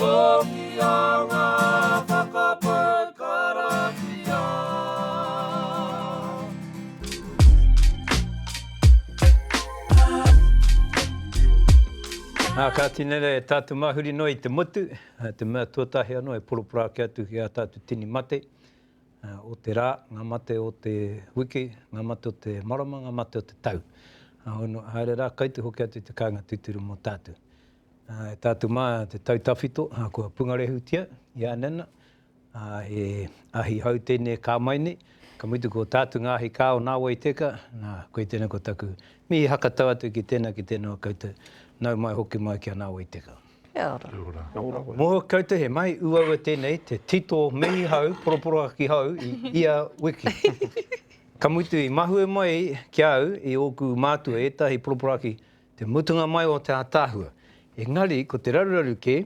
Okia nga whakapau karakia. Ā, kāti nei rā e tātou māhuri noa i te motu, ā, te mea tuatahi anō e poroporo ake atu ki ā tātou tini mate, ā, o te rā, ngā mate o te wiki, ngā mate o te marama, ngā mate o te tau. Ā, haere rā, kaiti hoki atu te kāinga tūturu mō tātou. E tā te mā te tau tawhito kua pungarehutia i a Nana, he ahi hou tēnei ka mai nei, ka mutu ko tātu ngā ahi kā o nāwai teka, nā, koe tēnei ko taku mihi hakatau atu ki tēnā, ki tēnā o koutou, nau mai hoki mai ki a nāwai teka. Kia ora. Kia ora. Kia ora. Mōhio koutou he mahi uaua tēnei, te tito mihi hou, poroporohaki hou i ia wiki. Ka mutu i mahue mai ki a au i ōku mātua ētahi poroporohaki te mutunga mai o te ātaahua, engari ko te raruraru kē,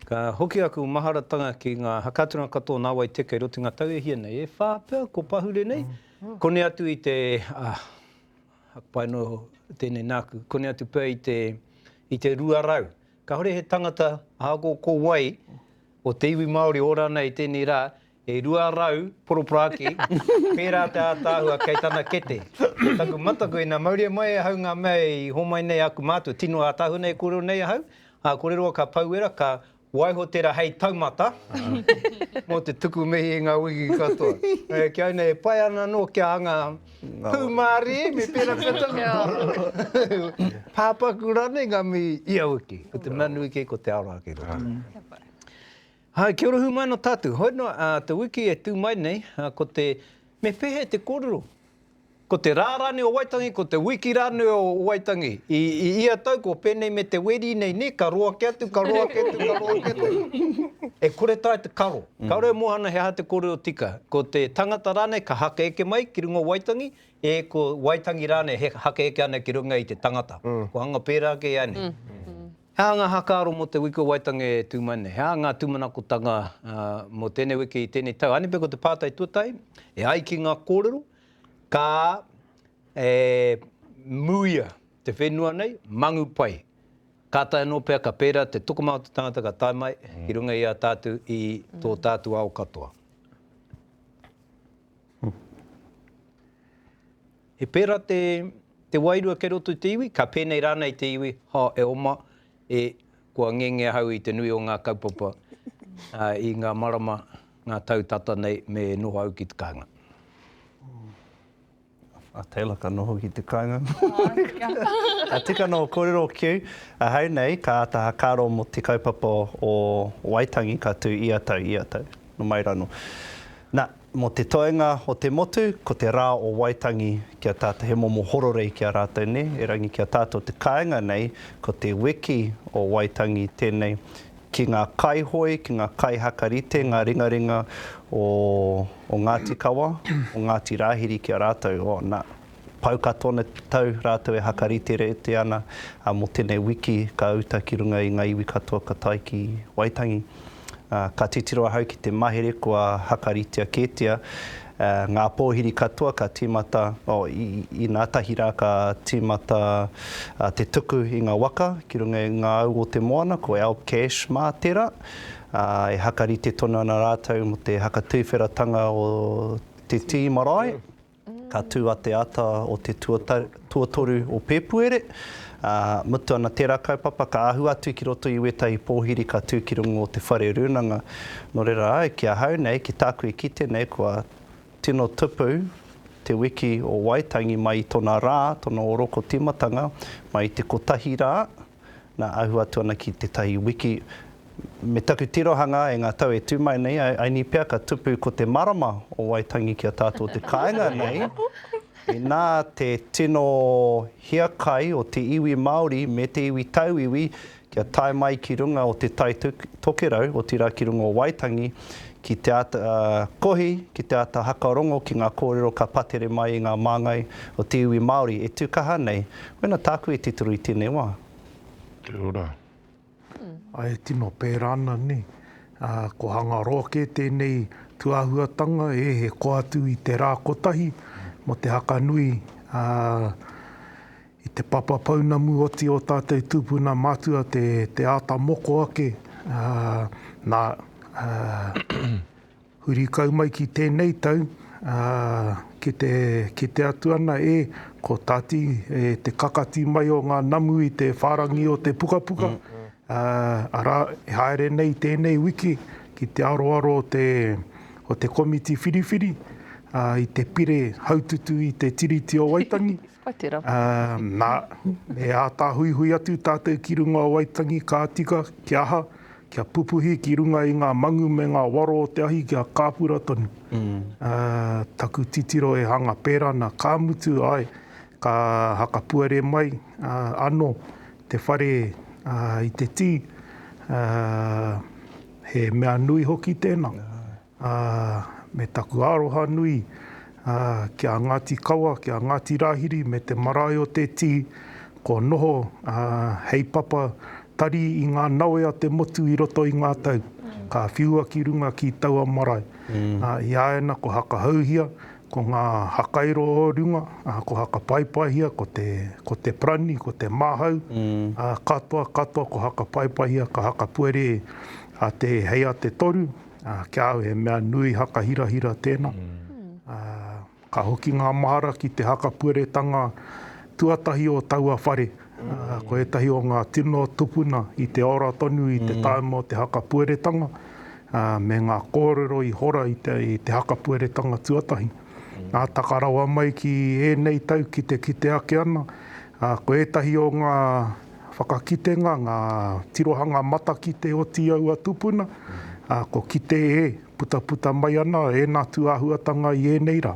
ka hoki aku maharatanga ki ngā hakatunga katoa nāwai teke rotinga tau e hia nei, e whā pea ko pahure nei, koni atu i te, ah, aku pai anō tēnei nāku, koni atu pea i te, i te rua rau. Kāore he tangata, ahakoa ko wai, o te iwi Māori ora ana i tēnei rā, E rua rau poroporaki, pērā te ātaahua kei tana kete. Ko taku mataku, ina mauria mai ahau ngā mea i hōmai nei aku mātua, tino ātaahua nei e kōrero nei ahau, ā, kore roa ka pau wera, ka waiho tērā hei taumata, mō te tuku mihi i ngā wiki katoa. E, kia ina, e pai ana anō kia anga pūmārie, me pērā pea taku pāpaku rānei ngā mihi ia wiki. Ko te mea nui kē, ko te aroha kē. Kia pai. Hi, kia ora hui mai no tatou. Hoi no a te wiki e tu mai nei, ko te me pehe te korero? Ko te ra ranei o Waitangi, ko te wiki ranei o Waitangi. I ia tau ko penei me te weri nei ne, ka roa ke atu, ka roa ke atu, ka roa ke atu. E kore tae te karo. Karo e mohana he aha te korero tika. Ko te tangata ranei ka haka eke mai ki runga o Waitangi, e ko Waitangi ranei he haka eke ana ki runga i te tangata. Ko anga pera ke ia nei. He aha ngā hākaro mō te Wiki o Waitangi e tū mai nei? He aha ngā tūmanakotanga mō tēnei wiki i tēnei tau? Anipe ko te pātai tuatahi, e ai ki ngā kōrero, ka e muia te whenua nei, mangu pai. Kātahi anō pea ka pērā te tokomā o te tangata ka tae mai ki runga i a tātou i tō tātou ao katoa. He pērā te, te wairua kei roto i te iwi, ka pēnei rānei te iwi, ha, e oma, e, kua ngenge ahau i te nui o ngā kaupapa ā, i ngā marama, ngā tau tata nei me noho au ki te kāinga. A Taylor ka noho ki te kāinga. Ka tika anō ō kōrero ki au. Ahau nei, ka āta hakaaro mō te kaupapa o Waitangi ka tū ia tau, ia tau, nō mai rānō. Nā, Mō te toenga o te motu, ko te rā o Waitangi ki a tātou, he momo hororei ki a rātou nē, erangi ki a tātou te kāinga nei, ko te wiki o Waitangi tēnei ki ngā kaihoe, ki ngā kaihaka rite, ngā ringaringa o Ngāti Kawa, o Ngāti Rāhiri ki a rātou, o nā. Pau ka tona tau ratou e hakariterete ana, a mo tenei wiki ka uta ki runga i nga iwi katoa ka tae ki Waitangi. A, ka titiro ahau ki te mahere kua hakaritea ketia, a, nga pohiri katoa ka timata, oh, i, inatahi ra ka timata a, te tuku i nga waka ki runga i nga au o te moana, ko Alp Cash ma tera, a, e hakarite tonu ana ratou mo te hakatuiwheratanga o te tii marae. Ka tū a te ata o te tuatoru o Pēpuere, ā, mutu ana tērā kaupapa ka āhua atu ki roto i wētahi pōhiri ka tū ki runga o te whare rūnanga. Nō reira au, ki ahau nei, ki tāku i kite nei kua tino tupu te wiki o Waitangi mai i tona rā, tona oroko tīmatanga, mai i te kotahi rā, na, ahu atu ana ki tetahi wiki, me taku tirohanga e nga tau e tu mai nei, I ni pea ka tupu ko te marama o Waitangi ki a tatou te kainga nei, ina te tino hiakai o te iwi Maori me te iwi tauiwi kia tae mai ki runga o te Tai Tokerau, otira ki runga o Waitangi, ki te ata kohi, ki te ata hakarongo ki nga korero ka patere mai i nga mangai o te iwi Maori e tu kaha nei, Mena tāku e titiro i tēnei wā. Kia ora. Ae tino pērā ana nei. Ko Hangaroa kē tēnei tuāhuatanga e he koa atu i te rā kotahi mō te haka nui i te papa pounamu oti o tātou tūpuna mātua te āta moko ake nā Huri kau mai ki tēnei tau, ā, ki te kite atu ana e, ko Tati, e te kakati mai o ngā namu i te whārangi o te pukapuka, ā, arā, e haere nei tēnei wiki ki te aroaro o te, o te komiti whiriwhiri, ā, i te pire haututu i te Tiriti o Waitangi. Pai tērā. Nā, e āta huihui atu tātou ki runga o Waitangi ka tika, kia aha, kia pupuhi ki runga i ngā mangu me ngā waro o te ahi kia kāpura tonu. Taku titiro e hanga pērā ana, ka mutu, āe, ka hakapuare mai anō te whare i te tī, he mea nui hoki tēnā. Ā, me taku aroha nui, ā, ki a Ngāti Kawa, ki a Ngāti Rāhiri me te marae o Te Tii, kua noho, ā, hei papa tari i ngā nawe a te motu i roto i ngā tau, ka whiua ki runga ki taua marae. Ā, i a ēna ko Hakahauhia, ko ngā hakairo o runga, ā, ko Hakapaepaehia, ko te, ko Te Prani, ko Te Māhau, ā, katoa, katoa ko Hakapaepaehia, ka hakapuere a Te Hei a Te Toru, Ā, ki a au he mea nui haka hirahira tēnā. Ā, ka hoki ngā mahara ki te haka pueretanga tuatahi o taua whare. Ā, ko ētahi o ngā tino tupuna i te ora tonu i te tāima o te haka pueretanga, ā, me ngā kōrero i hora i te, i te haka pueretanga tuatahi. Ā, taka rawa mai ki ēnei tau ki te kite ake ana, ā, ko ētahi o ngā. Whakakitenga, ngā tirohanga matakite o Tīaua tupuna, ā, ko kite e putaputa mai ana ēnā tūāhuatanga i ēnei rā.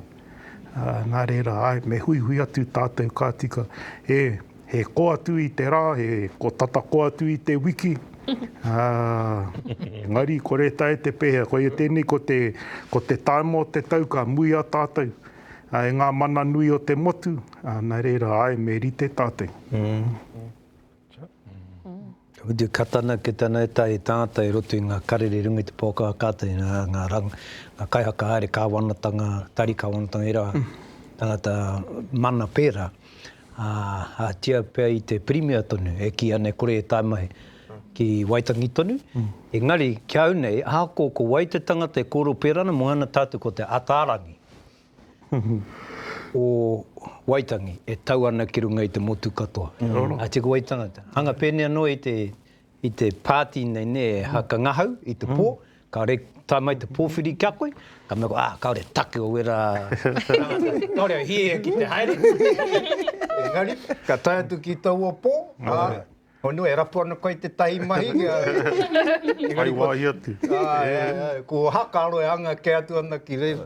Ā, nā reira, āe, me huihui atu tātou ka tika he, he ko atu i te rā, he ko tata ko atu i te wiki, ā, engari, kore tae te pēhea, koia tēnei ko te, ko te taima o te tau ka muia tātou. e ngā mana nui o te motu, nā reira, āe, me rite tātou. Ka whiti ka tana ki tana e tae tātai i roto i ngā karere runga i te pō kaha kātai, ngā kaihaka haere kāwanatanga, tari kāwanatanga i rā, tangata mana pērā. Ahatia pea i te Pirimia tonu e kī ana e kore e tae mai ki Waitangi tonu, engari ki au nei, ahakoa ko wai te tangata e kōrero pērā ana, moana tātou ko te Ataarangi. o Waitangi e tau ana ki runga i te motu katoa. Nā te wai tangata. Hanga pēnei anō i te, i te pāti nei nē, e haka ngahau i te pō, ka re, tae mai te pōwhiri ki a koe, ka mea koe, ah, kāore take o wera tangata, kāore au hie ki te haere. Engari, ka tae atu ki taua pō, ā, Honua, e rapu ana koe i tētahi mahi? Hai wāhi atu. Ko Hakaaro e anga kē atu ana ki reira.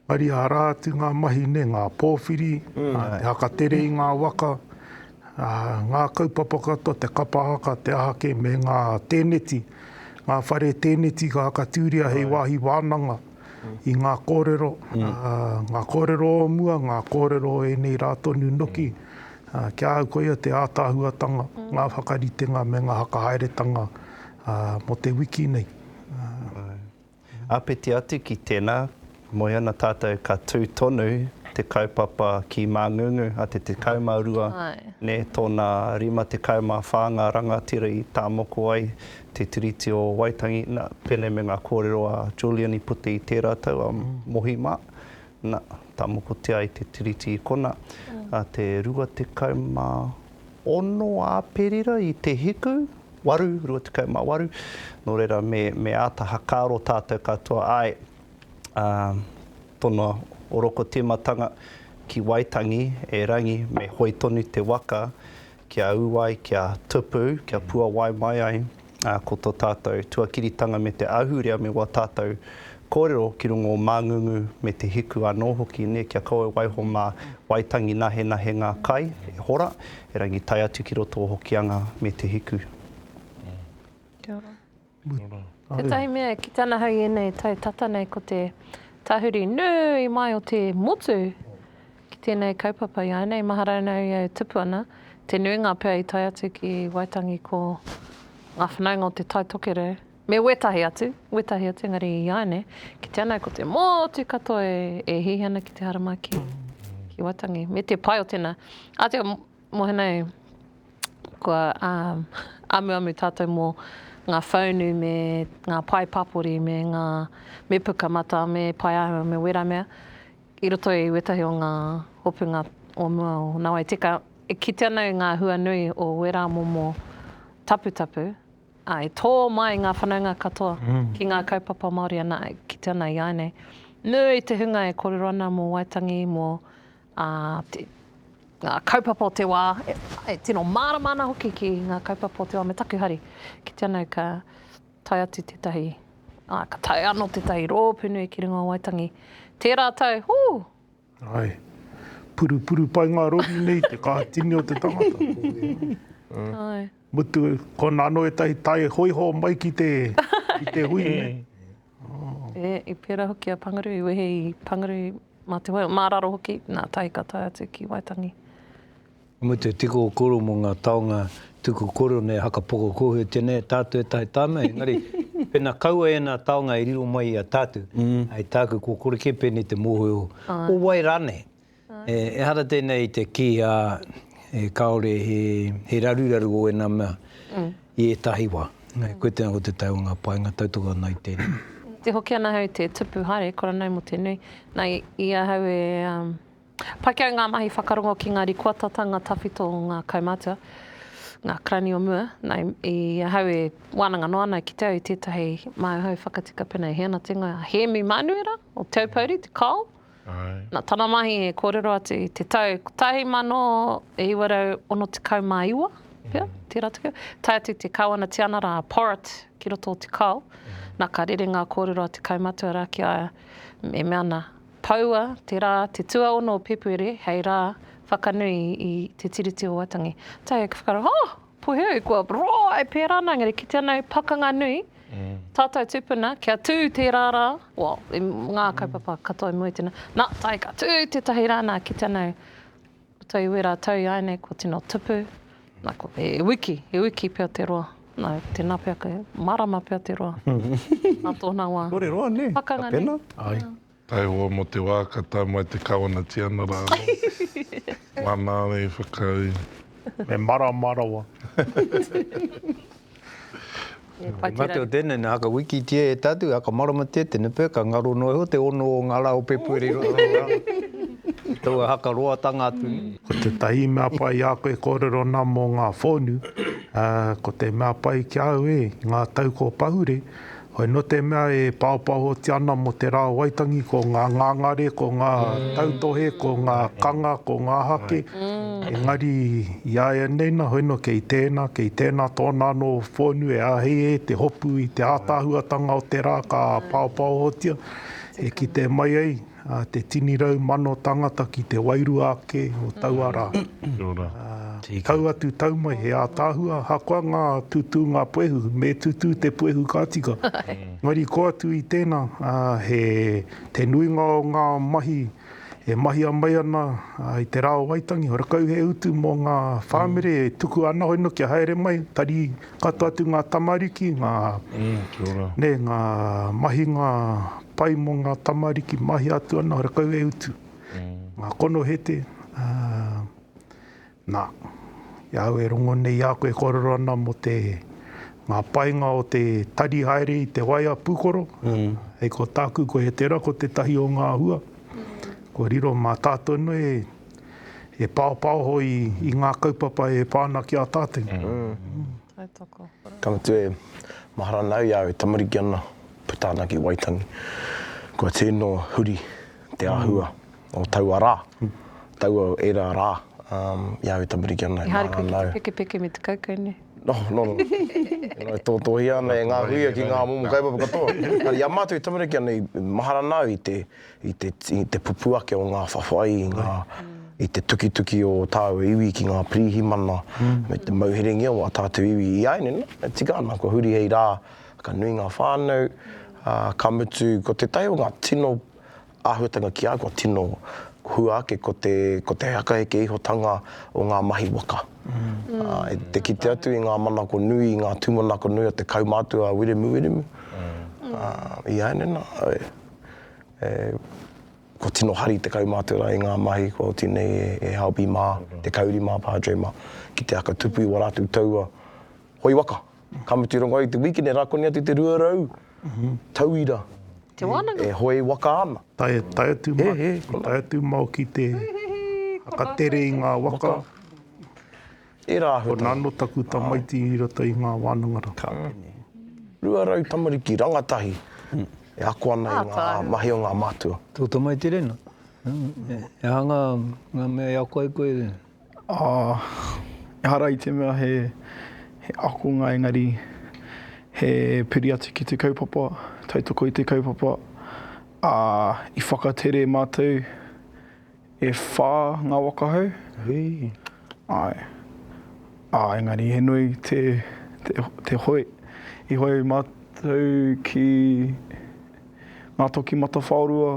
Maria, arā atu ngā mahi nei, ngā pōwhiri, te whakatere i ngā waka, ngā kaupapa katoa, te kapa haka, te aha kē, me ngā tēneti, ngā whare tēneti ka whakatūria hei wāhi wānanga. i ngā kōrero, ngā kōrero o mua, ngā kōrero o ēnei rā tonu noki, ki a au koia te ātaahuatanga, ngā whakaritenga me ngā whakahaeretanga mō te wiki nei. Āpiti atu ki tēnā, moe ana tātou ka tū tonu te kaupapa ki Māngungu a te 12, tōna 54 ngā rangatira i tāmoko ai, Te Tiriti o Waitangi, na, pēnei me ngā kōrero a Julian i puta i tērā tau, a Mohi mā, na, tā mokotia ai te Tiriti i kona, a te 26 Āperira i te hiku, 8, 28, nō reira me, me āta hakaaro tātou katoa, āe, ā, tōna orokotīmatanga ki Waitangi, e Rangi, me hoe tonu te waka, Kia ū ai, kia tupu, kia puawai mai ai ko tō tātou tuakiritanga me te ahurea me wā tātou kōrero ki runga o Māngungu me Te Hiku anō hoki, nē, kia kaua waiho mā Waitangi nahenahe ngā kai e hora, erangi tae atu ki roto o Hokianga me Te Hiku. Kia ora. Tētahi mea ki tana hau i ēnei tau tata nei ko te tahuri nui mai o te motu ki tēnei kaupapa iāinei maharau nau i au tupu ana, te nuinga pea i tae atu ki Waitangi ko ngā whanaunga o Te Tai Tokerau me wētahi atu, wētahi atu engari iāinei ki te anau ko te motu katoa e hihi ana ki te haramai ki Waitangi me te pai o tēnā. Mohenei, kua amuamu tātou mō ngā whaunu me ngā pae papori me ngā, me puka matā, me pae āhua, me wera mea, i roto i wētahi o ngā hopunga o mua o nawai teka. E kite ana i ngā hua nui o wera momo taputapu, ā, e tō mai ngā whanaunga katoa ki ngā kaupapa Māori anā, e kite ana i āianei. Nui te hunga e kōrero ana mō Waitangi, mō Ā, te, ngā kaupapa o te wā, e tino mārama ana hoki ki ngā kaupapa o te wā me taku hari. Kite ana au ka tae atu tētahi, ā, ka tae anō tētahi rōpū nui ki runga o Waitangi. Tērā tau, hū! Āe. Purupuru pai ngā rori nei i te kaha tini o te tangata. Āe. Mutu, kona anō ētahi tae hōiho mai ki te, ki te hui nei. E, i pērā hoki a Pangaru, i wehe i Pangaru mā te wai, mā raro hoki, nā, tahi ka tae atu ki Waitangi. Ka mutu tiko koro mō ngā taonga tuku koro nei haka poko kōhue tēnei tātou e tahi tāna engari pēnā kaua ēnā taonga e riro mai i a tātou hai tāku kua kore kē pēnei te mōhio o wai rānei. Ehara tēnei i te kī, ā, kāore he raruraru o ēnā mea i ētahi wā. Koia tēnā ko te tai o ngā painga, tautoko ana i tēnei. Te hoki ana ahau i te tupu haere, kora nau mō te nui. Na, i ahau e pakiau ngā mahi whakarongo ki ngā rikoatatanga tawhito o ngā kaumātua, ngā karani o mua, na, i ahau e wānanga noa ana ki te au i tētahi māu hau whakatika pēnei, he ana te ingoa, Hēmi Mānuera, o Te Aupouri, te Kao. Nā tana mahi e kōrero atu i te tau 1969 pea, tērā tau, tae atu te Kāwana Tianara a Porritt ki roto o Te Kao, nā ka rere ngā kōrero a te kaumatua rā ki a ia, e mea ana, Poua te rā te tuaono o Pēpuere hei rā whakanui i Te Tiriti o Waitangi. Tae atu ki whakaaro, oh! Puehu, kua roa e pērā ana, engari kite ana he pakanga nui, tātou tupuna, kia tū tērā rā, well, i ngā kaupapa katoa i mua i tēnā, nā, tae ka tū tētahi rā, nā, kite ana he, puta i wērā tau ināianei, kua tino tupu, nā, kua, he wiki, he wiki pea te roa, nā, tēnā pea, kei marama pea te roa, nā tōna wā. Kōrero anei, ka pena. Pakanga nui. Taihoa mo te wa ka tau mai te Kawana Tianara ano. Mana ana i whakau. Me marama rawa. Nga te o tenei na ka wikitia e tatu a ka maramatia tena pea ka ngaro no iho te ono o nga la o pepue ri roto i a tou a haka roa tanga atu nei. Ko te tahi mea pai i a koe e korero ana mo nga whonu, ko te mea pai ki a au e, i nga tau ko pahure, Hoi no te mea e paopaohotia ana mo te ra o Waitangi ko nga ngangare, ko nga tautohe, ko nga kanga, ko nga hake, engari i aianei na hoi no kei tena, kei tena tona ano whonu e ahei e te hopu i te atahuatanga o te ra ka paopaohotia e kite mai ai. A te tini rau mano tangata ki te wairua ake o taua ra. Kia ora. Tau atu, tau mai, he ataahua ahakoa nga tutūnga puehu, me tutū te puehu ka tika. Engari ko atu i tena, he te nuinga o nga mahi e mahia mai ana i te ra o Waitangi, rakau he utu mo nga whamere e tuku ana hono kia haere mai, tari Kato atu ngā tamariki, ngā, nē, ngā mahinga pai mō ngā tamariki, mahia atu ana, ora kau e utu. Ngā konohete, ā, nā, i a au e rongo nei i a koe e kōrero ana mō te, ngā painga o te tari haere i te waea pūkoro, hei ko tāku, ko Hetera ko tētahi o ngā hua, kua riro mā tātou nei, e paopaoho i, i ngā kaupapa e pā ana ki a tātou. Tautoko. Ka mutu e mahara ana au i a au e tamariki ana, puta ana ki Waitangi. Kua tino huri te āhua o taua rā, taua era rā, i a au e tamariki ana e mahara ana au. Ehara koe ki te pekepeke me te kaukau, nē? No, no, no. E tōtōhia ana e ngā huia ki ngā momo kaupapa katoa. Engari i a mātou e tamariki ana, mahara ana au i te i te, i te pupū ake o ngā whawhai, i ngā, i te tukituki o tāua iwi ki ngā pirihimana, me te mauherengia o ā tātou iwi i āianei, e tika ana, kua huri hei rā, ka nui ngā whānau, ā, ka mutu, ko tētahi o ngā tino āhuatanga ki a au, kua tino hua ake, ko te, ko te hakaheke ihotanga o ngā mahi waka. Ā, i te kite atu i ngā manako nui, i ngā tūmanako nui o te kaumātua a Wiremu Wiremu, ā, i āianei nā, Kua tino hari te kaumātua i ngā mahi kua oti nei e Halby mā, te kauri mā Padre mā, ki te aka tupu i wā rātou taua hoi waka. Ka mutu i rongo ai te wīkene rā koni atu te 200 tauira e hoi waka ana. Tae atu mā, tae atu mā ki te whakatere i ngā waka. E Rāhutanga. Ko Nano taku tamaiti i rata i ngā wānanga rā. Ka pene. Rua rau tamariki rangatahi e ako ana i ngā mahi o ngā mātua. Tō tamaiti rena? He aha ngā mea i ako ai koe? Ehara i te mea he akonga engari he piri atu ki te kaupapa, tautoko i te kaupapa. I whakatere mātou E whā ngā waka hou, āe. Ā, engari he nui te, te, te hoe. I hoe mātou ki Ngā Toki Matawhaorua,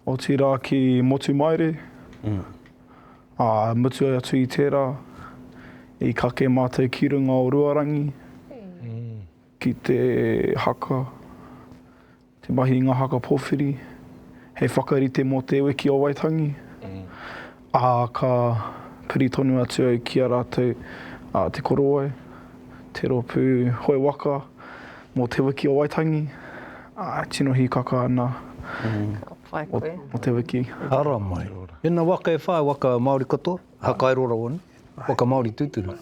otirā ki Motumaere, ā, mutu atu i tērā, i kake mātou ki runga o Ruarangi, ki te haka, Te mahi i ngā haka pōwhiri hei whakarite mō Te Wiki o Waitangi, ā, ka piri tonu atu au ki a rātou a Te Korowai, te rōpū hoe waka mō Te Wiki o Waitangi, ā, e tino hīkaka ana mō te wiki. Ara mai. Tēnā waka e whā, waka Māori katoa, whakairo rawa nei, waka Māori tūturu.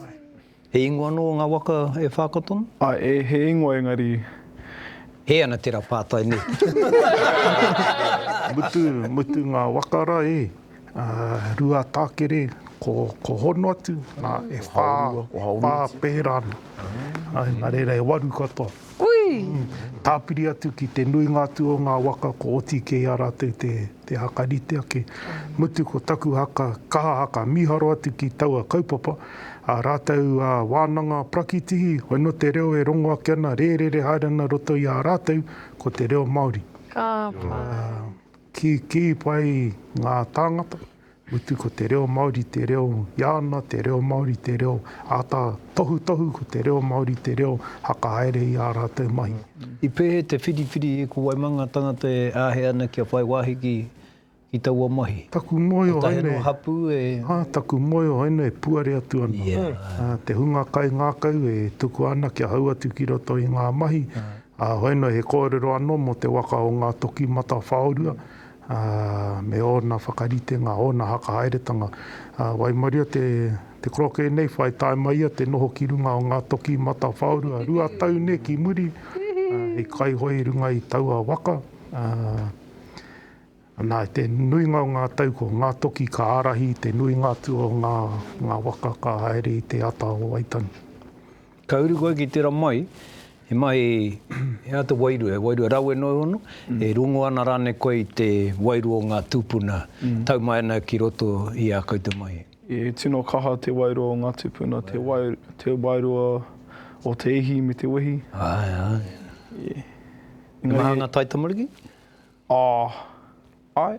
He ingoa anō ngā waka e whā ka tono? Ae, he ingoa engari. Hē ana tērā pātai nē. Mutu, mutu ngā waka rā e. Ruatākere, ko, ko hono atu, ā, e whā, whā pērā ana. Nā reira e waru katoa. Ui! Tāpiri atu ki te nuinga atu o ngā waka kua oti kē i a rātou te haka rite ake. Mutu ko taku haka, kaha haka, mīharo atu ki taua kaupapa, ā rātou wānanga prakitihi, hoi nō te reo e rongo ake ana, rērere haere ana roto i a rātou, ko te reo Māori. Ka pai. Kīkī pai ngā tāngata. Utu ko te reo Māori te reo Iāna, te reo Māori te reo āta tohutohu, ko te reo Māori te reo whakahaere i ā rātou mahi. I pēhea te whiriwhiri e ko Waimanga tangata e āhei ana kia whai wāhi ki taua mahi? Taku moe o ēnei. Kotahi anō hapū e. Taku moe o ēnei e puare atu ana. Te hunga kaingākau e tukua ana kia hau atu ki roto i ngā mahi. Hoinoi he kōrero anō mō te waka o Ngātoki Matawhaorua. ā, me ōna whakaritenga, ōna hakahaeretanga, ā, waimaria te, te korokē nei, whai tae mai ia te noho ki runga o ngā toki matawhaorua rua tau nē ki muri, ā, hei kaihoe i runga i taua waka, ā, anā, i te nuinga o ngā tau ko ngā toki ka ārahi i te nuinga atu o ngā, ngā waka ka haere i te ata o Waitangi. Ka uru koe ki tera mai, he mai he aha te wairua, he wairua rawe noa iho no, e rongo ana ranei koe i te wairua o nga tupuna tau mai ana ki roto i a koutou mai? E tino kaha te wairua o nga tupuna, te wairua o te ihi me te wehi. Ae, ae. He maha nga taitamariki? Ah, Āe.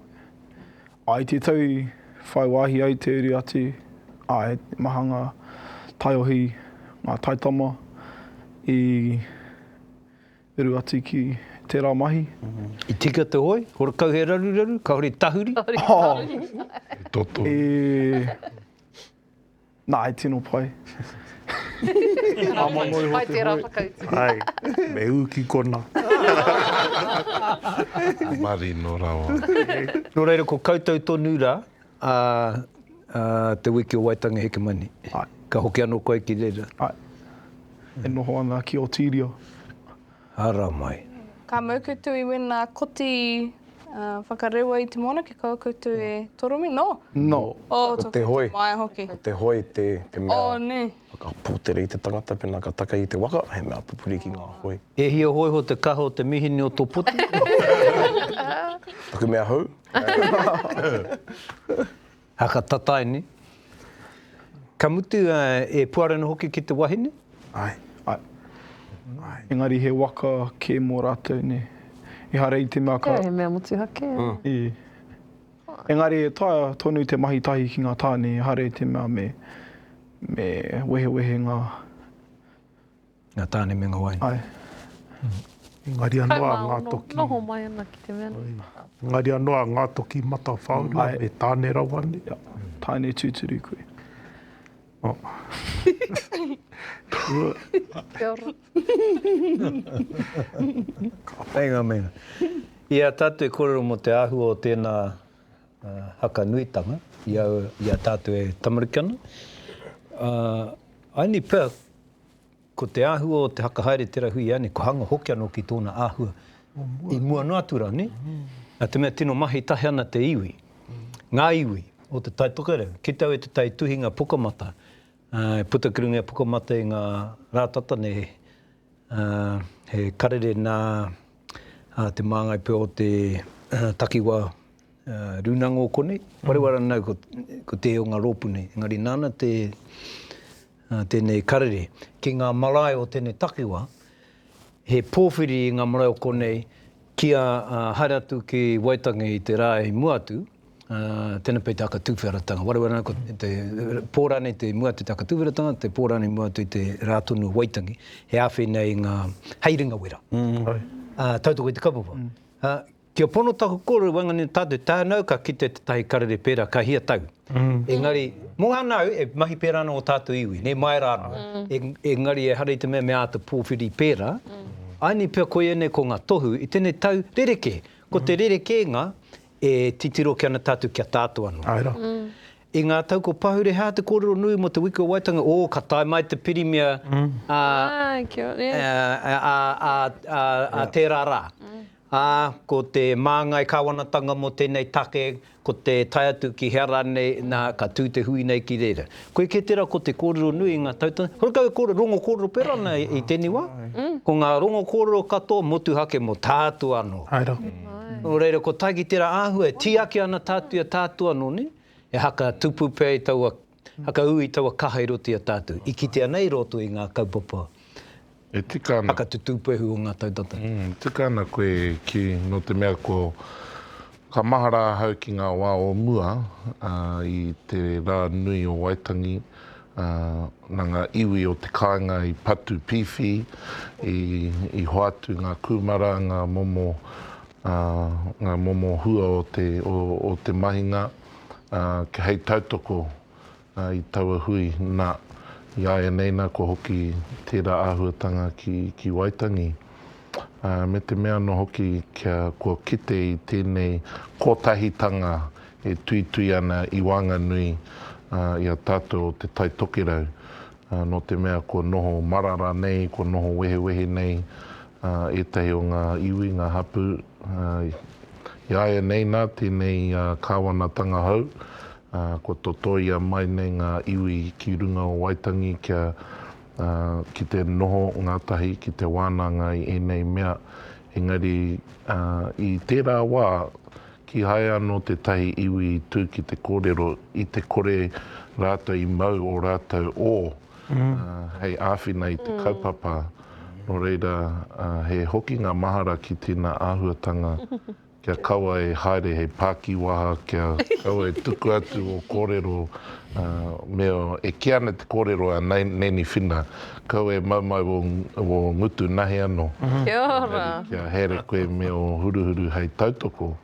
I te tau i whai wāhi ai te uri atu, āe, he maha ngā taiohi, ngā taitama i uru atu ki tērā mahi. I tika te hoi, hore kau he raruraru, kāore i tahuri. Kāore i tahuri. He toto. E. Nā, he tino pai. Pai tērā whakautu. Ai, me ū ki konā. Marino rawa. Nō reira, ko koutou tonu rā, ā, ā, te wiki o Waitangi Hekemani. Ai. Ka hoki anō koe ki reira? Ai. E noho ana ki Otirio. haramai. Ka mau koutou i wena koti whakarewa i te moana ki kaua koutou e torome, no? No. O to te hoi. Mai hoki. Ko te hoi te mea. O ne. Whakapotera i te tangata pena ka taka i te waka, he mea pupuri ki nga hoi. E hia hoi ho te kaha o te mihini o to poti. Taku mea hou. Haka tatae nei. Ka mutu e puare ana hoki ki te wahine? Ae. Ae. Engari he waka ke mo ratou ne. Ehara i te mea ka. Kei, he mea motuhake. I. Engari e taea tonu te mahi tahi ki nga tane ehara i te mea me me wehewehe nga Ngā tāne me ngā wai. Āe. Engari anō ā ngā toki. Kai māono, noho mai ana ki te mea nei. Engari anō ā ngā toki matawhāurua me tāne rawa nei. Tāne tūturu koe. Kia ora. Meinga, meinga. I a tātou e kōrero mō te āhua o tēnā haka nuitanga i a tātou e tamariki ana, I only pick Ko te āhua o te hakahaere tera hui ane, ko hanga hoki anō ki tōna āhua i mua noa atu rā, nē? Nā te mea tino mahi tahi ana te iwi, ngā iwi o Te Tai Tokerau, ki te au e Te Tai Tuhinga Pukamata, e puta ki runga e Pukamata i ngā rā tata nei, he karere nā te māngai pea o te takiwā rūnanga o konei, wharewa ranau ko tē o ngā rōpū nei, engari nāna te. Nā tēnei karere ki ngā marae o tēnei takiwā, he pōwhiri i ngā marae o konei kia haere atu ki Waitangi i te rā i mua atu, tēnei pea i te aka tuwheratanga. Waru ana ko te pō rānei te mua atu i te aka tuwheratanga, te pō rānei mua atu i te rā tonu o Waitangi, he āwhina i ngā hei ringawera. Tautoko i te kaupapa. Kia pono taku kore waenganui tā te tānau ka kite tētahi karere pērā ka hia tau. Engari, mō anau e mahi pērā ana ō tātou iwi, nē, mai rā anō. Engari ehara i te mea me āta pōwhiri pērā, āianei pea ko ēnei ko ngā tohu i tēnei tau rerekē. Ko te rerekēnga e titiro ake ana tātou kia tātoa noa. Āe rā. I ngā tau ko pahure hā te kōrero nui mō te Wiki o Waitangi, ō, ka tae mai te pirimia ā tērā rā. ā, ko te māngai kāwanatanga mō tēnei take, ko te tae atu ki hea rānei, nā, ka tū te hui nei ki reira. Koe kē tērā ko te kōrero nui i ngā tau tonu, hoki kau e kōrero, rongo kōrero pērā ana i tēnei wā, ko ngā rongo kōrero katoa motuhake mō tātou anō. Hai rā. Nō reira, kua tae ki tērā āhua e tīaki ana tātou i a tātou anō nei, e haka tupu pea i taua. Whakaū i taua kaha i roto i a tātou, i kitea nei i roto i ngā kaupapa whakatutūpehu o ngā tau tata. E tika ana koe ki, nō te mea ko, ka mahara ahau ki ngā wā o mua, ā, i te rā nui o Waitangi, ā, nā ngā iwi o te kāinga i patu pīwhī, i, i hoatu ngā kūmara, ngā momo, ā, ngā momo hua o te, o, o te mahinga. hei tautoko i taua hui, nā, i āianei nā kua hoki tērā āhuatanga ki Waitangi, me te mea anō hoki kia kua kite i tēnei kotahitanga e tuitui ana i waenganui i a tātou o Te Tai Tokerau Nō te mea kua noho marara nei, kua noho wehewehe nei ētahi o ngā iwi, ngā hapū, i āianei nā tēnei kāwanatanga hou, kua totoia mai nei ngā iwi ki runga o Waitangi kia ki te noho ngātahi, ki te wānanga i ēnei mea, engari i tērā wā, Kīhai anō tētahi iwi i tū ki te kōrero i te kore rātou i mau ō rātou ō hei āwhina i te kaupapa. Nō reira, he hokinga mahara ki tēnā āhuatanga kia kaua e haere hei pākiwaha, kia kaua e tuku atu ō kōrero, me ō, e kī ana te kōrero a Neni Whina, Kau e maumau wo wo ngutu nahe ano. Kia ora. Engari kia haere koe me o huruhuru hei tautoko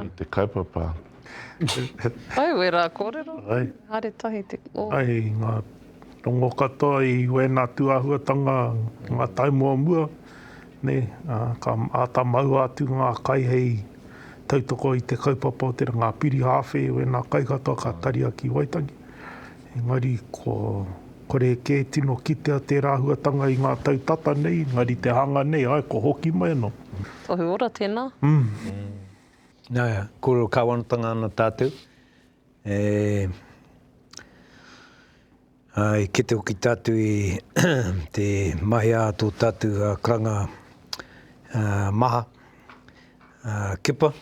i te kaupapa. Au e ra korero. Haere tahi te o. Ai nga tongo katoa i wena tu ahuatanga nga tau mo mua ne ka ata maua atu nga kai hei tautoko i te kaupapa o te ranga piri hawhe wena kai katoa ka taria ki Waitangi. Engari, kua kore kē tino kitea tērā huatanga i ngā tau tata nei, engari te hanga nei, āe, kua hoki mai anō. Tohu ora tēnā. Nā, kōrero kāwanatanga ana tātou, e, ā, i kite hoki tātou i te mahea a tō tātou karanga, ā, maha, ā, kepa.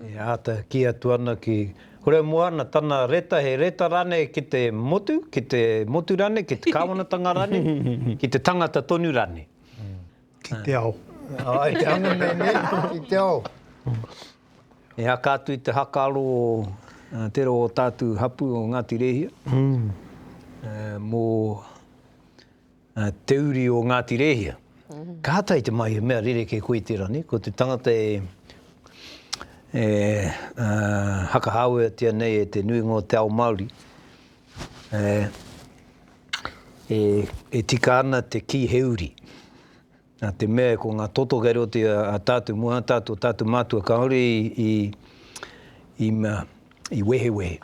E āta kī atu ana ki Horemoana tana reta, he reta rānei ki te motu, ki te motu rānei, ki te kāwanatanga rānei, ki te tangata tonu rānei? Ki te ao. Āe, te anga nei, nē? Ki te ao. E haka atu i te hakaaro o te roa o tātou hapū o Ngāti Rēhia mō. te uri o Ngāti Rēhia. Kātahi te mahi, he mea rerekē koe i tērā nei, ko te tangata e e hakahāweatia nei e te nuinga o te ao Māori, e e tika ana te kī he uri. Nā te mea ko ngā toto kei roto i a tātou moe, a tātou, tātou mātua kāore i i i mea, i wehewehe.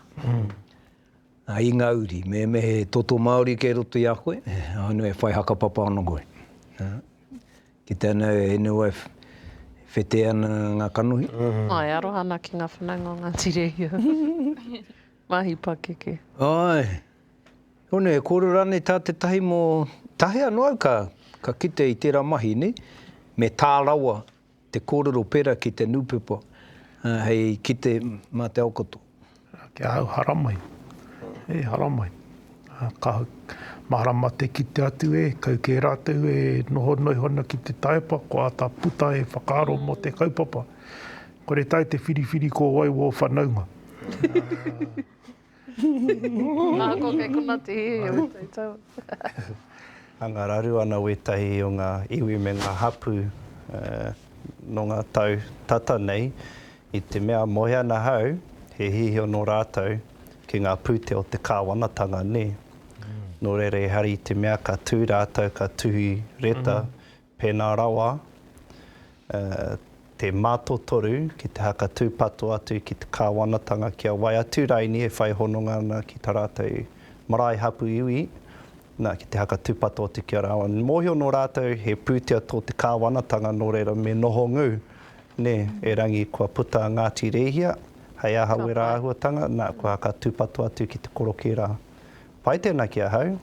Nā, i ngā uri, me me he toto Māori kei roto i a koe, ānō e whai hakapapa ana koe. Kite ana e NOF, e whetē ana ngā kanohi. Āe, aroha ana ki ngā whanaunga o Ngāti Rehia. Mahi pakeke. Āe. Hone, e kōrero rānei tā tētahi mō, tahi anō au ka, ka kite i tērā mahi, nei? Me tā rawa Te kōrero pērā ki te nūpepa hei kite mā te aokoto. Ki ahau, haramai. Hei haramai. Ka mārama te kite atu e, kau kē rātou e noho noiho ana ki te taepa, kua āta puta he whakaaro mō te kaupapa. Kore tae te whiriwhiri ko wai wō whanaunga. Ā, ko kei konā te hē e ō tautau. Anga raru ana wētahi o ngā iwi me ngā hapū nō ngā tau tata nei i te mea moe ana hau he hīhio nō rātou ki ngā pūtea o te kāwanatanga nē. Nō reira ehara i te mea ka tū rātou ka tuhi reta Pēnā rawa, te mātotoru ki te haka tūpato atu ki te kāwanatanga ki a wai atu raini e whai hononga ana ki tā rātou marae hapu iwi, nā, ki te haka tūpato atu ki a rāua. Mōhio nō rātou he pūtea tō te kāwanatanga nō reira me noho ngū, nē, erangi kua puta a Ngāti Rēhia, hei aha wērā āhuatanga, nā, kua haka tūpato atu ki te korokē rā. Pai tēnā ki ahau.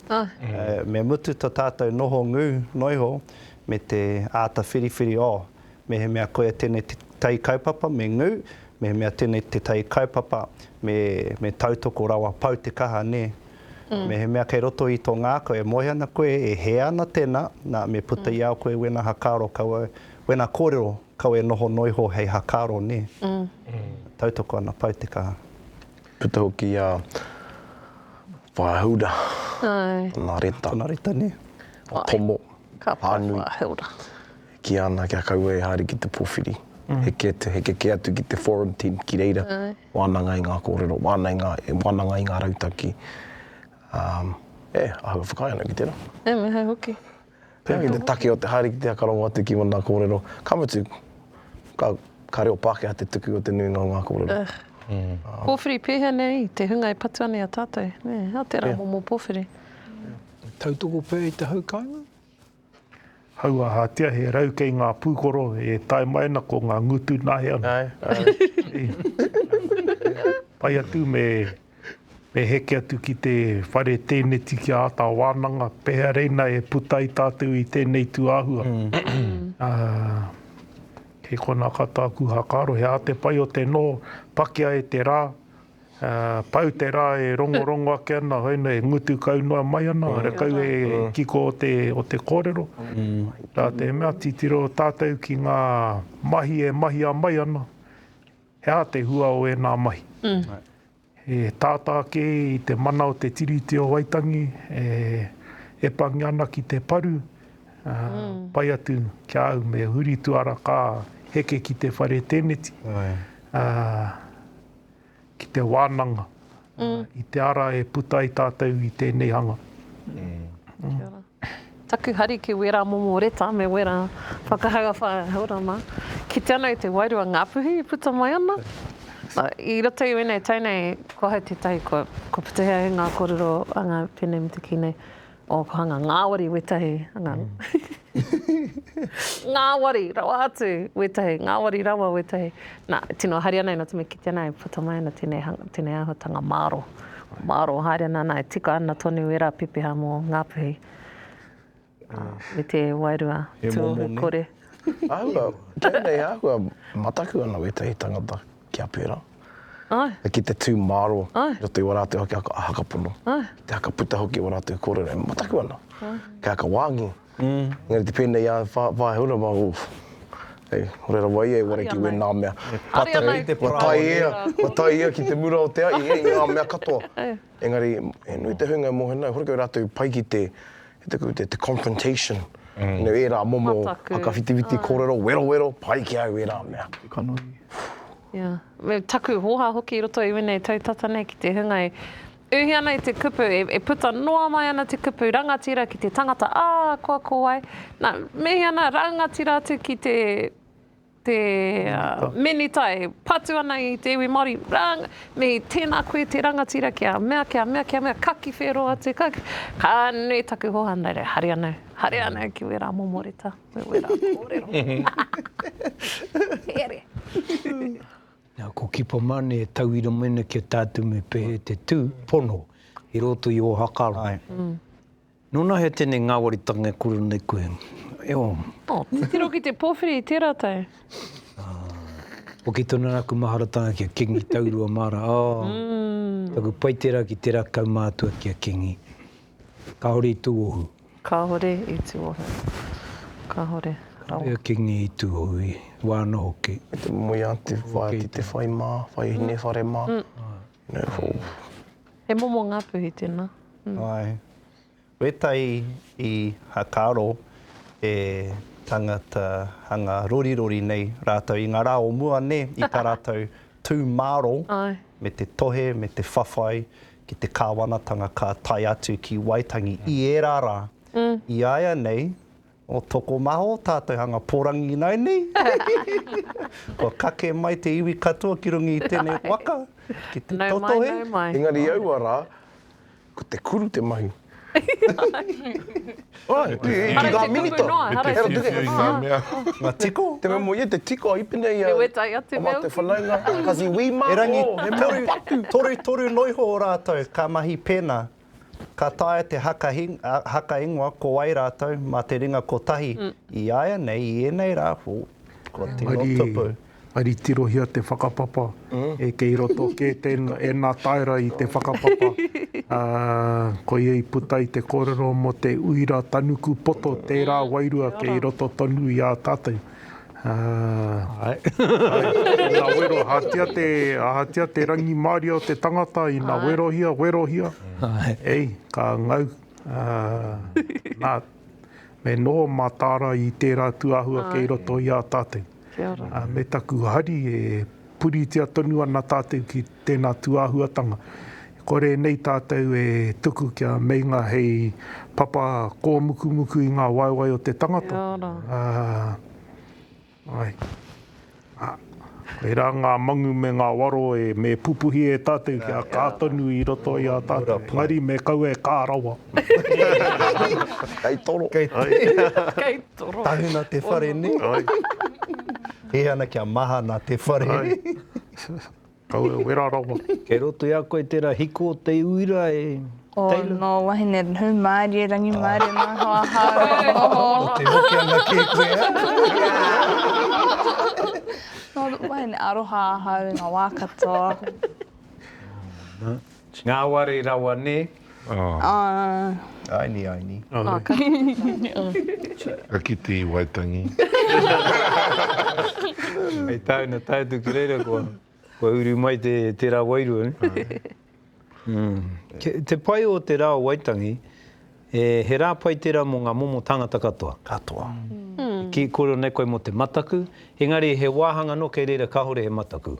Me mutu to tātou noho ngū, noiho, me te āta whiriwhiri o, mehemea koia tēnei te tai kaupapa me ngū, mehemea tēnei te tai kaupapa me me tautoko rawa pau te kaha nē. Mehemea kei roto i tō ngākau e moe ana koe e hē ana tēnā, nā me puta i a koe wēnā hakaaro kau au, wēnā kōrero kau e noho noiho hei hakaaro nē. Tautoko ana pau te kaha. Puta hoki i a Whāhaura tana reta. Tana reta, nē. A Tomo, whānui. E kīia ana kia kaua e haere ki te pōwhiri. Heke atu, heke kē atu ki te forum tent ki reira. Wānanga i ngā kōrero, wānanga i ngā rautaki. E, āhua whakaae ana ki tērā. E, me hau hoki. Pea ki te take o te haere ki te whakarongo atu ki wna korero, ka mutu, ka, ka reo Pakeha te tuku o te nuinga o nga korero. Ugh. Powhiri, pehea nei te hunga e patua nei a tatou, ne, a te ra momo powhiri. E tautoko pea i te hau kainga? Hau ahatia he rau kei nga pukoro e tae mai ana ko nga ngutu nahe ana. Ae, ae. Pai atu me Me heke atu ki te whare tēneti ki a ata wānanga, pehea reina e puta ai tātou i tēnei tūāhua. Kei konā ka tāku hakaaro, he ate pai o te noho, pakea e te rā, pau te rā e rongorongo ake ana, hoi noa e ngutu kau noa mai ana, re kau e kiko o te kōrero. Rā te mea, titiro tātou ki ngā mahi e mahia mai ana. He aha te hua o ēnā mahi? He tātā kē i te mana o te Tiriti o Waitangi e epangi ana ki te paru, pai atu ki a au me huri tuara ka heke ki te whare tēneti, ki te wānanga. i te ara e puta ai tātou i tēnei hanga. Kia ora. Taku hari ki wērā momo reta me wērā whakahau a Wharehaorama, kite ana i te wairua Ngāpuhi i puta mai ana. I roto i wēnei tau nei, ko ahau tētahi kua putehia e ngā kōrero a ngā pēne me te kī nei, Oh, ko hanga ngāwari wētahi, hanga. ngāwari rawa atu wētahi, ngāwari rawa wētahi. Nā, tino haere ana, ina tino kite ana, e puta mai ana tēnei, tēnei āhuatanga māro. Māro, haere ana, nā, e tika ana tonu ērā pepeha mō Ngāpuhi. Uh, me te wairua, tū ohu kore. Ahua, tēnei ahua, mataku ana wētahi tangata. kia pērā, ki te tū māro i roto i wā rātou ake hakapono, ki te haka puta hoki i wā rātou kōrero e mataku ana, kei haka wāngi. Engari te pēnei a Paehaura mā, oof, hei, hore rawa ia i wara ki wēnā mea. Ka tae, ka tae ia, ka tae ia ki te mura o te ahi, hei ngā mea katoa. Engari, he nui te huinga mō hena, hore kau rātou pai ki te, he te, te, te confrontation, you know, ērā momo Mataku. whakawhitiwhiti kōrero, werowero, pai ki au ērā mea. Kanohi. Ia. Me taku hōhā hoki i roto i wēnei tau tata nei ki te hunga e uhi ana i te kupu, e, e puta noa mai ana te kupu, rangatira ki te tangata, ā, koa ko wai. Nā, mehia nā, rangatira atu ki te, Te Minita e patu ana i te iwi Māori, rāng, me tēnā koe te rangatira kia mea, kia mea, kia mea, ka ki whēro atu, ka ki, ka nui taku hoa, nā reira, haere anō, haere anō ki wērā momo reta, me wērā kōrero. Here. Nā, ko Kipa Mane e tauira mai ana ki a tātou me pēhea te tū, pono, i roto i Ōhaka rā. Nō nā hea tēnei ngāwaritanga e kore nei koe? E ō. Oh, te tiro ki te pōwhiri i tērā tau. Ah. Hoki tonu ana aku maharatanga ki a Kingi Taurua Mara. Oh. Mm. Taku pai tērā ki tērā kaumātua ki a Kingi. Kāore i tūohu. Kāore i tūohu. Kāore. Kāore a Kingi i tūohu, i wāna hoki. Te moe a te whaea ki te whai mā, whai hine whare mā. Mm. He momo Ngāpuhi tēnā. Āe. Wētai i hakaaro e tangata hanga rorirori nei rātou i ngā rā o mua nē, i tā rātou tū māro me te tohe, me te whawhai ki te kāwanatanga ka tae atu ki Waitangi i ērā rā. I a ia nei, O tokomaha o tātou hanga porangi ināi nei. Kua kake mai te iwi katoa ki runga i tēnei waka ki te totohe. Nau mai, nau mai. Engari i aua rā, ko te kuru te mahi. Ai, te tū i ngā minita. Hara i te tū i ngā mea. Ngā tiko. Te mea mō ia, te tiko a Ipene i a Te Whanaunga, Kazi Wī mā. Erangi, toru, toru, toru noa iho o rātou ka mahi pēnā. Ka taea te haka ingoa ko wai rātou mā te ringa kotahi i āianei i ēnei rā whū, kua tino tupu. Engari tirohia te whakapapa e kei roto kē tēnā, ēnā taera i te whakapapa, koia i puta i te kōrero mō te uira tanuku poto tērā wairua kei roto tonu i ā tātou. Āe. Ina wero, ahatia te, ahatia te rangimārie o te tangata, ina werohia, werohia, ei, ka ngau. Nā, me noho mā Tāra i tērā tūāhua kei roto i a tātou. Me taku hari e. puritia tonu ana tātou ki tēnā tūāhuatanga. Kore nei tātou e tuku kia meinga hei papa kōmukumuku i ngā waewae o te tangata. Kia ora. Ā, āe. Ā, koirā ngā mangu me ngā waro e, me pupuhi e tātou kia kā tonu i roto i a tātou. Engari me kaua e kā rawa. Kei toro. Kei toro. Tahuna te whare nei. He ana kia mahana te whare. Ai. Kau e wera rawa. Kei roto i a koe tera hiko o te uira e Taylor. Oh no wahine who marie rangi marie no ho ahau oho. Ko te hoki ana ke koe eh. No wahine aroha ahau i nga wa katoa. Ngāwari rawa nē? Aini, aini. Ka kite i Waitangi. Hei tāna tae atu ki reira kua uru mai te rā wairua. Te pai o te rā o Waitangi, he rā pai tērā mō ngā momo tāngata katoa. Katoa. Ki kore nei koe mō te mataku, engari he wāhanga anō kei reira kāore he mataku.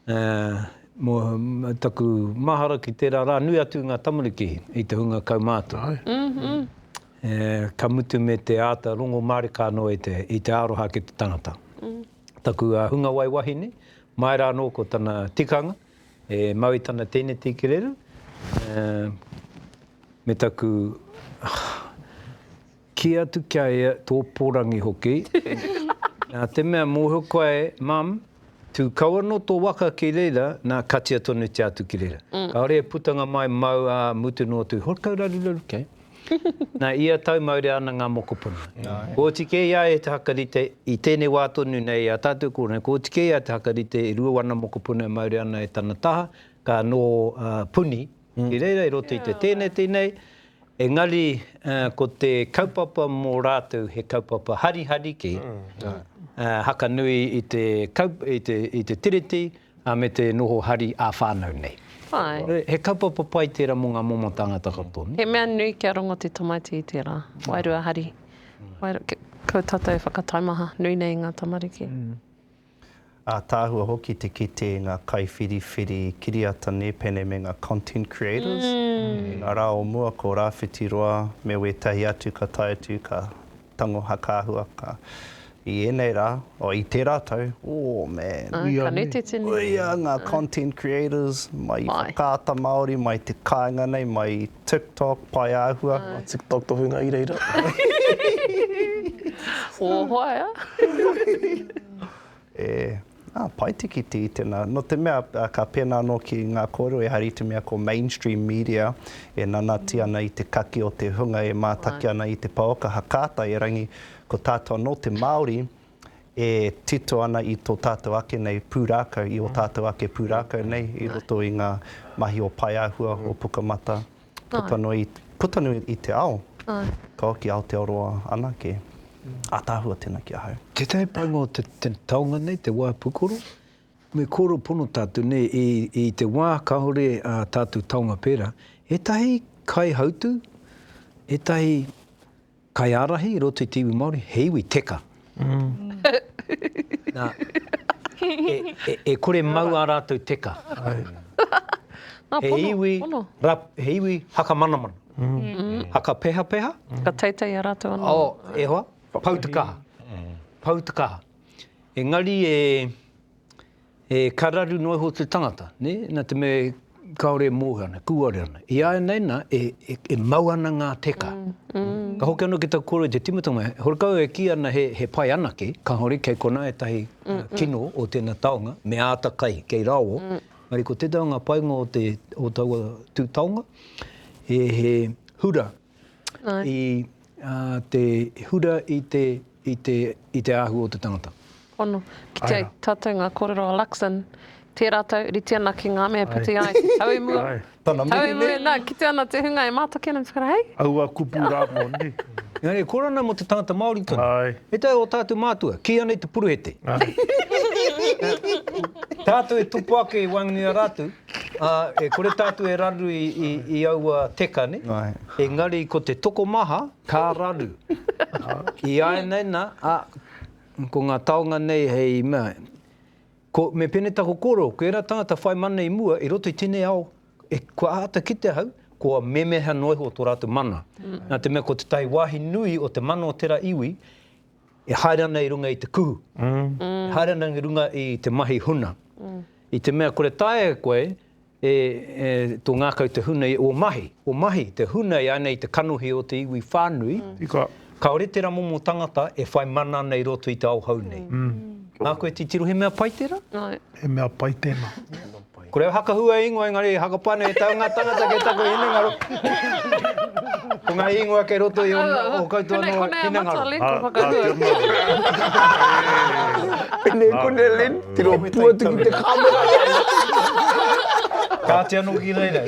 Ā, mō taku mahara ki tērā rā, nui atu ngā tamariki i te hunga kaumātua. Ā, ka mutu me te āta rongo mārika anō i te, i te aroha ki te tangata. Taku hungawai wahine, mai rā anō ko tana tikanga, e mau i tana tēneti kererū, ā, me taku, Kī atu ki a ia tō pōrangi hoki, nā te mea mōhio koe e, Mum, tū kau anō tō waka ki reira, nā, katia tonutia atu ki reira. Kāore e putanga mai, mau, ā, mutu noa atu, hore kau raruraru kē. Nā, ia tau maurea ana ngā mokopuna. Kooti kē i a ia te hakarite, i tēnei wā tonu nei i a tātou kōrero, kooti kē i a ia te hakarite, e rua ana mokopuna e maurea ana e tana taha, ka nō Puni, I reira i roto i te tēneti nei, engari ko te kaupapa mō rātou he kaupapa harihariki, haka nui i te i te Tiriti me te noho hari ā-whānau nei. He kaupapa pai tērā mō ngā momo tāngata katoa. He mea nui kia rongo te tamaiti i tērā, wairua hari, kua tātou whakataumaha nui nei i ngā tamariki. Ātaahua hoki te kite i ngā kaiwhiriwhiri kiriata nēpene me ngā content creators. I ngā rā o mua ko Rāwhiti Roa me wētahi atu ka tae atu ka tango hakaahua ka i ēnei rā, oh i tērā tau, oh man, uia ngā content creators mai i Whakaata Māori, mai te kāinga nei, mai TikTok, pae āhua. Ngā TikTok tohunga i reira. Ō hoa ea. E, ā, pai te kite i tēnā. Nō te mea, ka pēnā anō ki ngā kōrero, ehara i te mea ko mainstream media e nanati ana i te kaki o te hunga e mātaki ana i te pouaka, ha kāta, erangi, ko tātou anō te Māori, e tito ana i tō tātou ake nei pūrākau, i ō tātou ake pūrākau nei i roto i ngā mahi o Paeāhua, o Pukamata, puta noa, puta noa i te ao, ka hoki Aotearoa anake. Ataahua tēnā ki ahau. Tētahi painga o te taonga nei, te wā pūkoro, me kōrero pono tātou nei, i, i te wā kāore ā tātou taonga pērā, ētahi kaihautū, ētahi. Kaiārahi i roto i te iwi Māori, he iwi teka. Nā, e kore mau ā rātou teka. He iwi, he iwi hakamanamana. Hakapehapeha. Whakateitei ā rātou anō. Oh, e hoa, pou te kaha. Pou te kaha. Engari e, E kararu noa iho te tangata, ne, na te mea kaore e moe ana, e kuare ana. I ainei na, e, e, e mau ana nga teka. Ka hoki ano ki taku koro i te timatanga, he horekau e ki ana he, he pai anake, kahore kei kona etahi kino o tena taonga, me ata kai kei raoa. Engari ko tetahi o nga painga o te, o taua tu taonga, he, he hura, i te hura i te, i te, i te āhua o te tangata. Pono. Ki te tatau ngā kōrero a Luxon, tērā tau, rite ana ki ngā mea e patu ai, te tau i mua, te tau i mua, nā, kite ana te hunga e mātaki ana, tūkara, hei? Aua kupu rā moni. Engari, kōrero ana mō te tangata Māori tonu. Āe. He tae ō tātou mātua, kīia nei te puruhete. Tātou e tupu ake i waenganui i a rātou, Ā, e kore tātou e raru i, i, i aua teka, nē? Āe. Engari ko te tokomaha, ka raru. Iāinei nā, ā, ko ngā taonga nei hei mea, ko, me pēnei taku kōrero, ko ērā tāngata whai mana i mua, i roto i tēnei ao, e, kua āta kitea au, kua memeha noa iho tō rātou mana. Nā te mea ko te tahi wāhi nui o te mana o tērā iwi, e haere ana i runga i te kuhu, e haere ana i runga i te mahi huna. I te mea kore taea e koe e, e tō ngākau te huna i ō mahi, ō mahi, te huna i ānei te kanohi o te iwi whānui, Ika. kāore tērā momo tangata e whai mana ana i roto i te ao hou nei. Nā koe titiro he mea pai tērā? He mea pai tēnā. Ko reo hakahua e ingoa engari e hakapā nei e tau ngā tangata kei taku hinengaro. Ko ngā ingoa kei roto i o koutou anō hinengaro. Konei, konei a Matalin, ko Whakahua. Pēnei, konei Lynn, tino pū atu ki te kāmera. Kāti anō ki reira,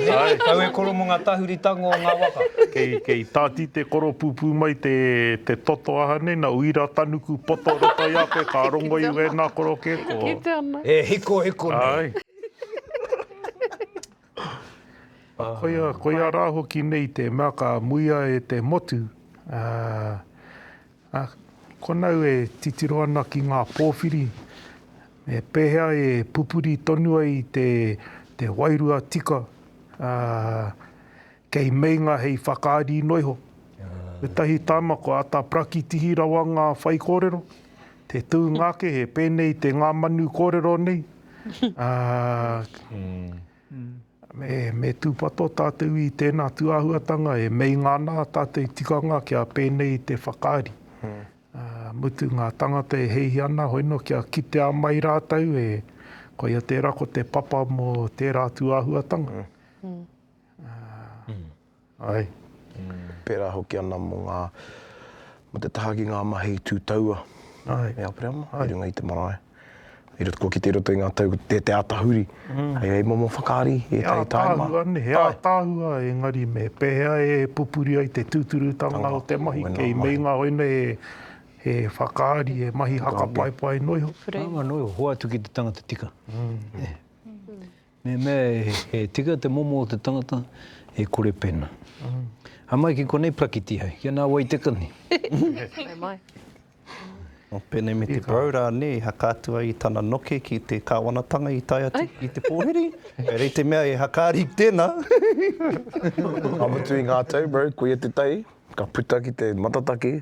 tau e koro mō ngā tahuri tango o ngā waka. Kei tāti te koro pūpū mai te toto aha nei, nā uira tanuku poto roto i a koe, ka rongo i wēnā koro kē ko. E hikohiko nei. Āe. Koia, koia rā hoki nei te mea ka muia e te motu, ā, konau e titiro ana ki ngā pōwhiri, me pēhea e pupuri tonu ai te, te wairua tika, ā, Kei meinga hei whakaari noa iho. Etahi tama ko ata prakitihi rawa nga whai korero, te tuunga ake he penei te nga manu korero nei, aa, me tupato tatou i tena tuahuatanga e meinga ana tatou tikanga kia penei te whakaari, aa, mutu nga tangata e heihi ana hoi no kia kitea mai ratou e koia tera ko te papa mo tera tuahuatanga. Āe, pērā hoki ana mō ngā, mō te taha ki ngā mahi tū taua e Aperama i runga i te marae. I roto, kua kite i roto i ngā tau, te, te āta huri, hei, hei momo whakaari i ētahi tāima. He ātaahua nei, he ātaahua engari me pēhea e pupuri ai te tūturutanga o te mahi kei meinga koinei he, he whakaari, he mahi haka paepae noa iho. Whare. Noa iho, hoatu ki te tangata tika. Nē. Me mea he tika te momo o te tangata e kore pena. Haere mai ki konei prakiti hai, ki ana wai te kani. Haere mai. O penei me te parau ra ne, i hakaatu ai tana noke ki te kawanatanga i tae atu ki te pohiri, rei te mea e hakaari tena. Ka mutu i nga tau bro, koia te tai, ka puta ki te matataki.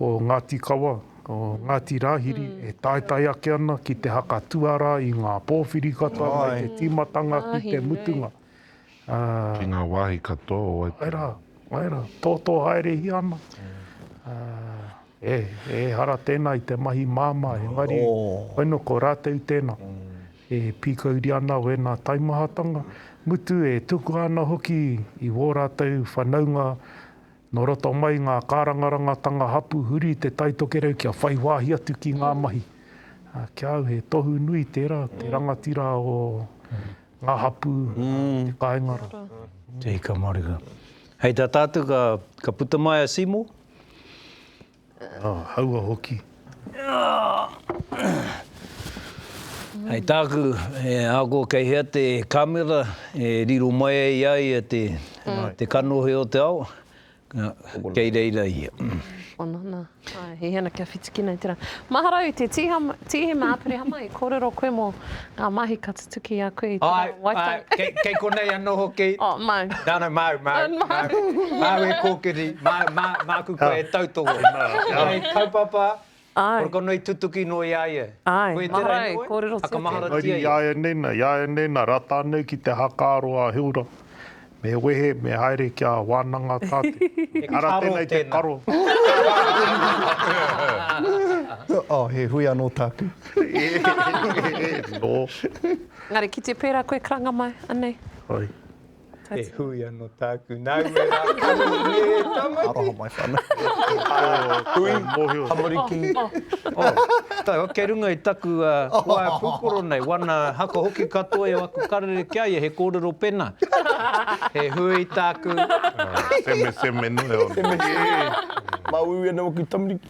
o Ngāti Kawa, o Ngāti Rāhiri e taetae ake ana ki te haka tuarā i ngā pōwhiri katoa mai te tīmatanga ki te mutunga. Ki ngā wāhi katoa o Waitangi. Āe rā, āe rā, tōtō haerehia ana. Ehara tēnā i te mahi māmā, engari whai nō ko rātou tēnā e pīkauri ana wēnā taimahatanga, mutu e tukua ana hoki i wō rātou whanaunga Nō roto mai ngā kārangarangatanga hapū huri i te taitokerau kia whai wāhi atu ki ngā mahi. Ki a au he tohu nui tērā, te rangatira o ngā hapū, te kāinga rā. Tēhi ka maruha. Hei tā tātou ka puta mai a Seymour. Ā, haua hoki. Hei tāku, he ākua kei hea te kāmera e riro mai ai i a ia te kanohi o te ao, kei reira ia. Ono nā. He hea ana kia whiti ki nei tērā. Maharau, te Tīhema Aperehama, i kōrero koe mō ngā mahi ka. Tuki aku i tera waitohu. Ae, ae, kei konei ano hoki. Oh, mau. No, no, mau, mau, mau. Mau e kokiri, mau, ma, maku koe e tautoho. Ae, kaupapa, kore kono i tutuki no i a ia. Ae, koe tera i koe, whakamaharatia ia. Haere i a ia nena, i a ia nena, rata nei ki te haka aro a Hilda. Me wehe, me haere kia wānanga tā te. He karo tēnei. Ara tēnei te karo. Oh, he hui anō tāku. Nō. Engari ki te pērā koe karanga mai, anei. Hai. He hui anō tāku. Nāu e rākau nei, e Tamati. Aroha mai. Hui, tamariki. Oh, kei runga i taku waea pūkoro nei, wana haka hoki katoa i au aku karere ki a ia, he kōrero pena, he hui tāku. Seme, seme nui au. Seme, seme. Mau iwi ana waku tamariki.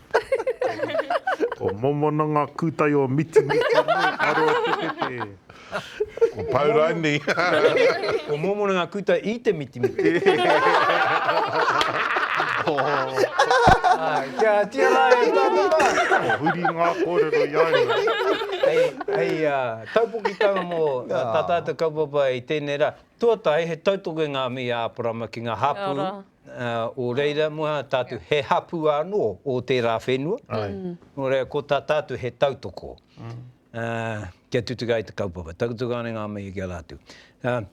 Ko Momo na nga kutai o Mitimiti nei, aro atu te te. Ko Pau Raini. Ko Mōmona ngā kūtai i te mitimiti. Āe, kia tia rā e tātou rā. Kua huri ngā kōrero i a ia. Hei taupokitanga mō tā tātou kaupapa i tēnei rā. Tuatahi, he tautokenga a Mīa Āparama ki ngā hapū o reira mō tātou. He hapū anō o tērā whenua, nō reira ko tā tātou he tautoko. kia tutuki ai te kaupapa, takutuka ana i ngā mihi ki a rātou.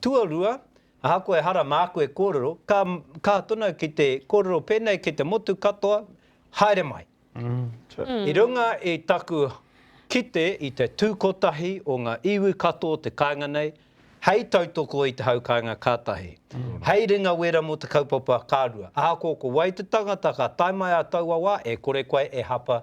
Tuarua, ahakoa ehara māku e kōrero, ka kaha tonu ki te kōrero pēnei ki te motu katoa, haere mai. I runga i taku kite i te tū kotahi o ngā iwi katoa o te kāinga nei, hei tautoko i te hau kāinga ka tahi, hei ringa wera mō te kaupapa ka rua. Ahakoa ko wai te tangata ka tae mai ā taua wā, e kore koe e hapa